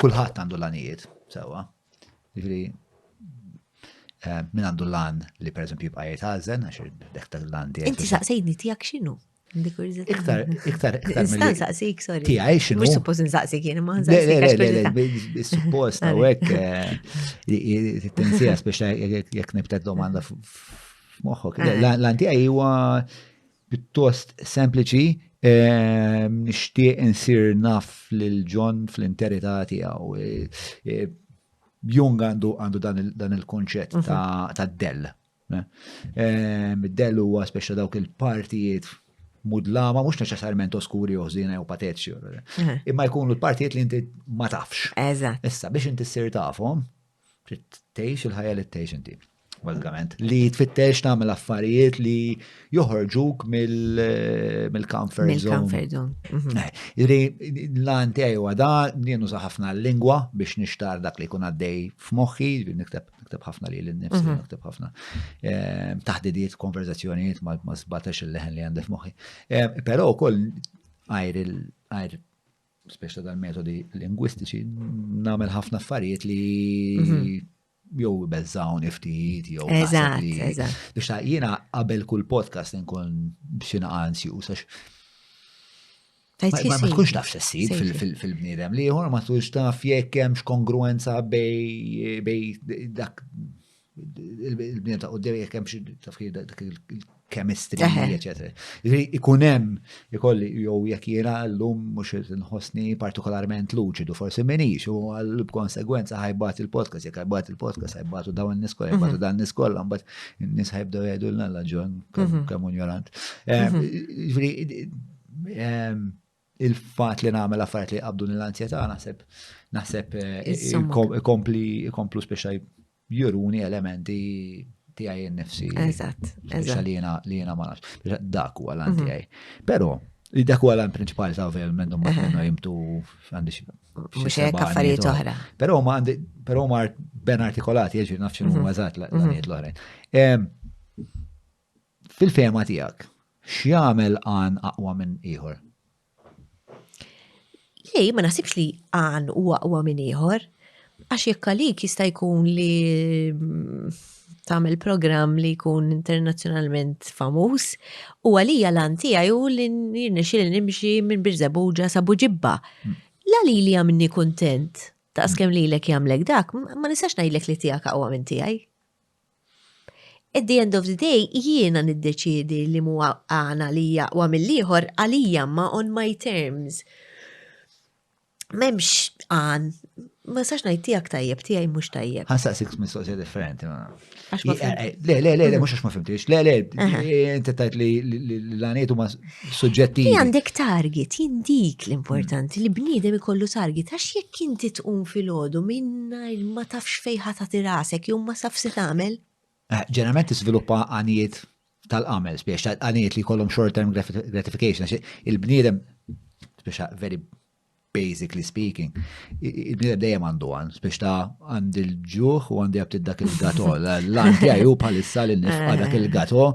Kulħadd għandu l-għanijiet, sewwa. Jiġifieri eh, min għandu l-għan li pereżempju jibqa' jgħid ħażen għax dek tal għan tiegħek. Inti saqsejni tiegħek x'inhu? Iktar, iktar, iktar. Nistan saqsik, sorry. Ti għaj xinu. Mux suppost nsaqsik jien, ma nsaqsik. Suppost, għawek, eh, t-tensija, speċa jek nibtet domanda f-moħħok. L-anti għaj huwa Pjuttost sempliċi, nixtieq insir naf lil John fl-interità tiegħu. Jung għandu dan il-kunċett ta' dell. Dell huwa speċa dawk il-partijiet mudlama, mhux neċessarjament oskuri jew ħżiena jew patetiċi. Imma jkunu l-partijiet li inti ma tafx. Eżatt. Issa biex inti ssir tafhom, Trid tgħix il-ħajja li tgħix inti. Bażikament, li tfittex tagħmel affarijiet li joħorġuk mill-comfort zone. Mill-comfort zone. Mhm. Eh, Iri, l-għan tiegħi huwa da, jienu ħafna l-lingwa biex nixtar dak li jkun għaddej f'moħħi, nikteb nakteb ħafna li l-nifsi, mhm. nakteb ħafna ehm, taħdidiet, konverzazzjonijiet ma sbatax il-leħen li għandef moħi. Ehm, Pero koll għajr spiex ta' dal-metodi lingwistiċi, nagħmel ħafna affarijiet li mhm. jew bezzawni ftit jew Eżatt, eżatt. Biex ta' jiena qabel kull podcast nkun b'xi anzi u sax. Ma tkunx taf xessib fil-bniedem li jħor ma tkunx taf jekk hemm x'kongruenza bej dak il-bnien ta' qoddim jekk hemm xi taf dak il-chemistry, eċetera. Jiġri ikun hemm ikolli jew jekk jiena llum mhux qed inħossni partikolarment luċidu forsi minix u għal b'konsegwenza ħajbat il-podcast, jekk ħajbat il-podcast ħajbatu dawn in-nies kollha, mhm. ħajbatu dan nies kollha, mbagħad in-nies ħajbdew jgħidu l-nalla ġon mhm. kemm unjorant. Mhm. Jiġri il-fatt li nagħmel affarijiet li jqabduni l-anzjetà naħseb naħseb ikompli ikomplu speċa juruni elementi tiegħi nnifsi. Eżatt, eżatt. Li jiena li jiena ma nafx. Dak huwa l-anti mhm. tiegħi. Però Dak huwa l-għan prinċipali ta' għavel mennu ma' minnu jimtu għandi xie. Mux jek affarijiet oħra. Pero ma għandi, pero ma ben artikolati, jieġi nafxin u għazat l-għaniet l-oħrajn. Fil-fehma tiegħek, x'jagħmel għan aqwa minn ieħor? Le, ma naħsibx li għan u aqwa minn ieħor, għax jekk għalik jista' jkun li mm, tagħmel programm li jkun internazzjonalment famuż u għalija l-għan tiegħi u li nirnexxi li nimxi minn Birżabuġa sa Buġibba. Hmm. La li li għamni kuntent ta' skem li l-ek jamlek dak, ma nistax najlek li tijak għawa minn tijaj. At the end of the day, jiena niddeċiedi li mu għana li jaqwa mill-ieħor għalija ma on my terms. Memx għan, ma sax najt tijak tajjeb, tijaj mux tajjeb. Għasa six mistoqsija differenti ma. Eh, eh, le, le, le, le, mux għax ma fimtix, le, le, inti tajt li l-għaniet u ma suġġettivi. Li għandek target, jien dik l-importanti li bniedem ikollu target, għax jekk inti tqum fil-ħodu minna ma tafx fejħa ta' tirasek, jew ma safsi tagħmel. Eh, ġeneralment tiżviluppa għanijiet tal-għamel, spiex għanijiet li kollhom short-term gratification, għax il-bniedem, spiex very basically speaking, il-bnidem dejjem għandu għan, biex ta' għand il-ġuħ u għandi għabtid dak il-gato, l-għan għaju palissa li nifqa dak il-gato,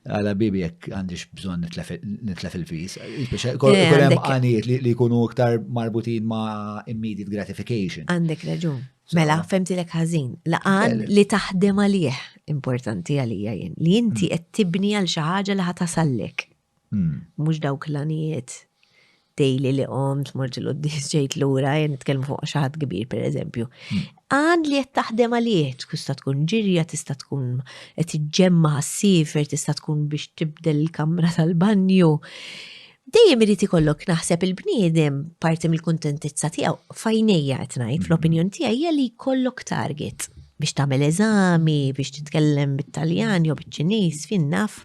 għala bibi jek għandix bżon nitlef il-fis. Biex kolem għaniet li kunu iktar marbutin ma' immediate gratification. Għandek raġun. Mela, femti l ħażin. Laqan li taħdem għalih importanti għalija jien. Li inti mm. qed tibni għal xi ħaġa li ħatasallek. Mhux dawk l-għanijiet daily li qomt, mort il-qoddis ġejt lura, jen nitkellmu fuq xi ħadd kbir pereżempju. Hmm. Għan li qed taħdem għalih, tista' tkun ġirja, tista' tkun qed iġġemma ħassiefer, tista' tkun biex tibdel il-kamra tal-banju. Dejjem irid ikollok naħseb il-bniedem parti mill-kuntentizza tiegħu fajnejja qed ngħid hmm. fl-opinjon tiegħi hija li jkollok target biex tagħmel eżami, biex titkellem bit-Taljan jew biċ-Ċiniż fin naf.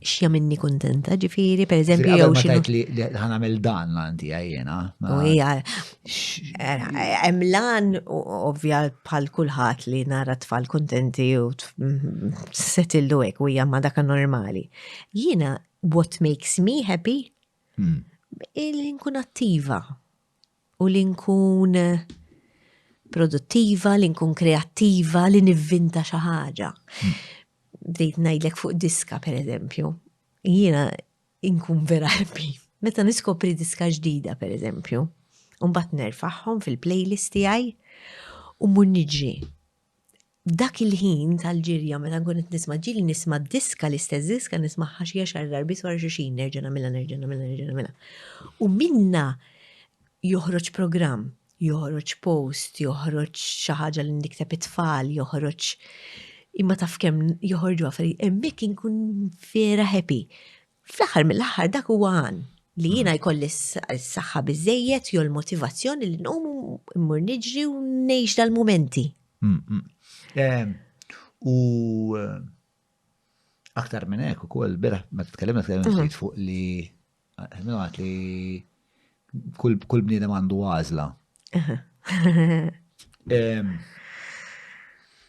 x'jamilni kuntenta, ġifieri, pereżempju jew xi. Tajt li ħan għamel dan l-anti għajjena. U hija hemm lan ovvja bħal kulħadd li nara tfal kuntenti u setillu hekk u hija ma dak normali. Jiena what makes me happy hmm. il-nkun attiva u li nkun produttiva, li nkun kreattiva, li nivvinta xi ħaġa. Hmm. Bdejt ngħidlek fuq diska pereżempju. Jiena nkun vera ħabbi. Meta niskopri diska ġdida pereżempju, u mbagħad nerfaħħom fil-playlist tiegħi u mur niġri. F'dak il-ħin tal-ġirja meta nkun qed nisma' ġieli nisma' diska l-istess diska nismagħha xi għaxar darbiet wara xulxin nerġa' nagħmilha nerġa' nagħmilha nerġa' nagħmilha. U minnha joħroġ programm, joħroġ post, joħroġ xi ħaġa li nikteb it-tfal, joħroġ imma taf kemm joħorġu affarijiet hemmhekk inkun vera happy. Fl-aħħar mill-aħħar dak huwa għan li jiena mm. jkolli s-saħħa biżejjed jew l-motivazzjoni li nqum immur niġri u ngħix dal-mumenti. Mm, mm. Ehm, u eh, aktar minn hekk ukoll beraħ ma tkellimna tkellimna mhm. fuq li eh, għat li Kull bniedem għandu għażla.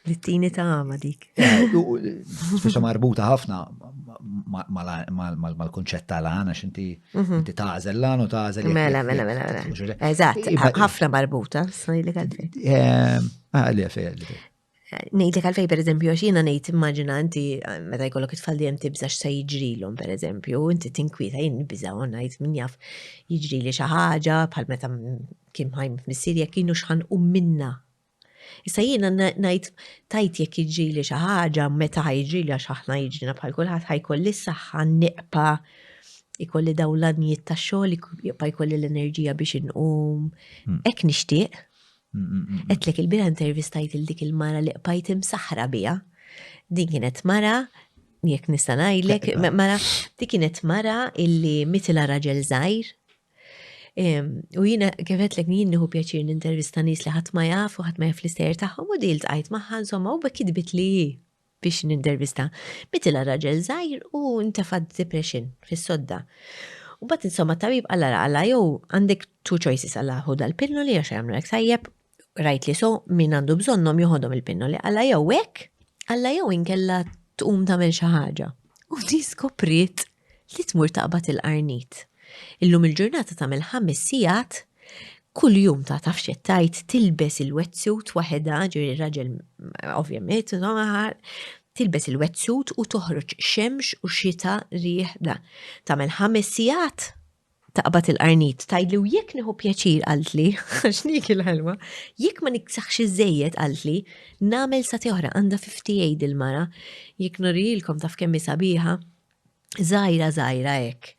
L-tini ta' għama dik. Eh, Speċa marbuta ħafna mal-konċett ta' l-għana, xinti mhm. inti tażel l-għan u tażel. Mela, mela, mela, mela. Eżatt, ħafna marbuta, s-sani li għadri. Eh, ah, Nejt li kalfej per eżempju, għax jena nejt immaġina inti eh, meta jkollok it-tfal dijem tibza x'sa jiġrilhom per eżempju, inti tinkwieta jien nibża u ngħid min jaf jiġri li xi ħaġa bħal meta kien ħajm f'missier jekk kienu xħan u minna. Issa jiena ngħid tajt jekk jiġri li xi ħaġa meta jiġri li għax aħna jiġrina bħal kulħadd ħajkolli s-saħħa niqpa ikolli dawn l-għanijiet ta' xogħol, jibqa' jkolli l-enerġija biex inqum. Hmm. Hekk nixtieq Etlek il-bira intervistajt il-dik il-mara li qbajt imsaħra bija. Din kienet mara, jek nista' ngħidlek, mara, dik kienet mara illi mitila raġel żgħir. U jiena kif qedlek jien nieħu pjaċir nintervista nies li ħadd ma jaf u ħadd ma jaf l-istejjer tagħhom u dil tqajt magħha insomma u bekk kitbit li biex nintervista. Bitilha raġel żgħir u ntefa' depression fis-sodda. U bat insomma tabib għalla għalla jew għandek two choices għalla hu dal-pinnoli għax jagħmlek sajjeb, rajt li so min għandu bżonnhom joħodhom il-pinnoli għalla jew hekk, għalla jew inkella tqum tagħmel xi ħaġa. U di skopriet li tmur taqbad il-qarnit. Illum il-ġurnata tagħmel ħames sigħat kull jum ta' taf xettajt tilbes il-wetsuit waħedha, ġiri raġel ovvjament, tilbes il-wetsuit u toħroġ xemx u xita rieħda. Tagħmel ħames sigħat taqbad il-qarnit. Tgħidli u jekk nieħu pjaċir qaltli, għax niekil l-ħelwa, jekk ma niksaħx iżżejjed qaltli, nagħmel sa tieħra għandha fifty eight il-mara, jekk nurihielkom taf kemm hi sabiħa, żgħira żgħira hekk.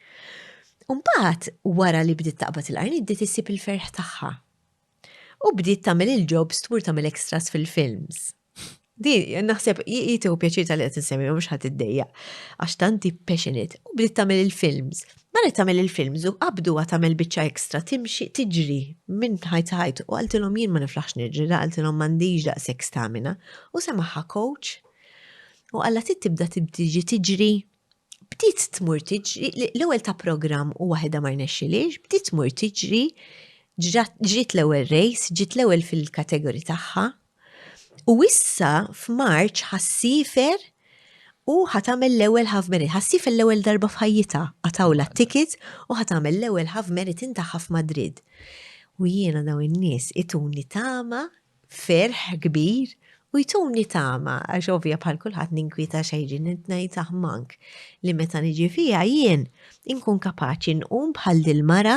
U mbagħad wara li bdiet taqbad il-qarnit bdiet issib il-ferħ tagħha. U bdiet tagħmel il-jobs tmur tagħmel extras fil-films. Di, naħseb, jieti u pjaċir tal-li għet nsemmi, mux ħat id-dejja. Għax tanti passionate, u bdiet tamel il-films. Mara tamel il-films u qabdu għat tamel bicċa ekstra, timxi, tiġri, minn ħajt ħajt, u għaltilom jien ma niflaħx nirġi, da għaltilom mandiġ da sek stamina, u semaħħa coach, u għalla tit tibda tibdiġi tiġri, bdiet tmur tiġri, l-ewel ta' program u wahida ma rnexxiliex, bdiet tmur tiġri, ġriet l-ewel race, ġiet l-ewel fil-kategori tagħha, U issa f'Marċ ħassifer u ħatamel l-ewwel half merit. Ħassifer l-ewwel darba f'ħajjitha qatawla t-ticket u ħatamel l-ewwel half marathon tagħha f'Madrid. U jiena dawn in-nies ituni tama, ferħ kbir u jtuni tama għax ovvja bħal kulħadd ninkwieta xejrin qed ngħid aħmank li meta niġi fiha jien inkun kapaċi nqum bħal dil-mara